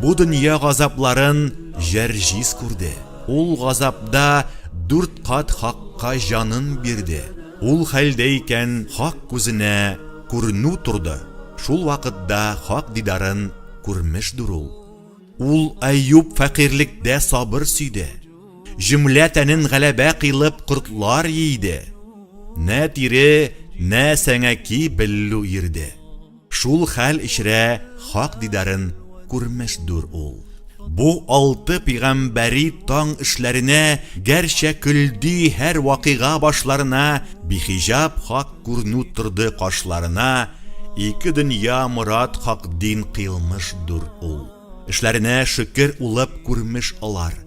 Бу дөнья газапларын Җәрҗис күрде. Ул газапда дүрт кат Хакка җанын бирде. Ул хәлдә икән Хак күзенә күренү торды, шул вакытда Хак дидарын күрмешдер ул. Ул Әюп фәкыйрьлектә сабыр сөйде. Җөмлә тәнен галәбә кыйлып кортлар йийде. Нә тире, нә сәңәки беллү ирде. Шул хәл эчрә Хак дидарын күрмәсдур ул. Бу алты пигамбәри таң эшләренә гәрчә көлди һәр вакыйга башларына бихиҗаб Хак күрнү торды кашларына ике дөнья морад Хак дин кыйлмышдур ул. Эшләренә шөкер улып күрмеш алар.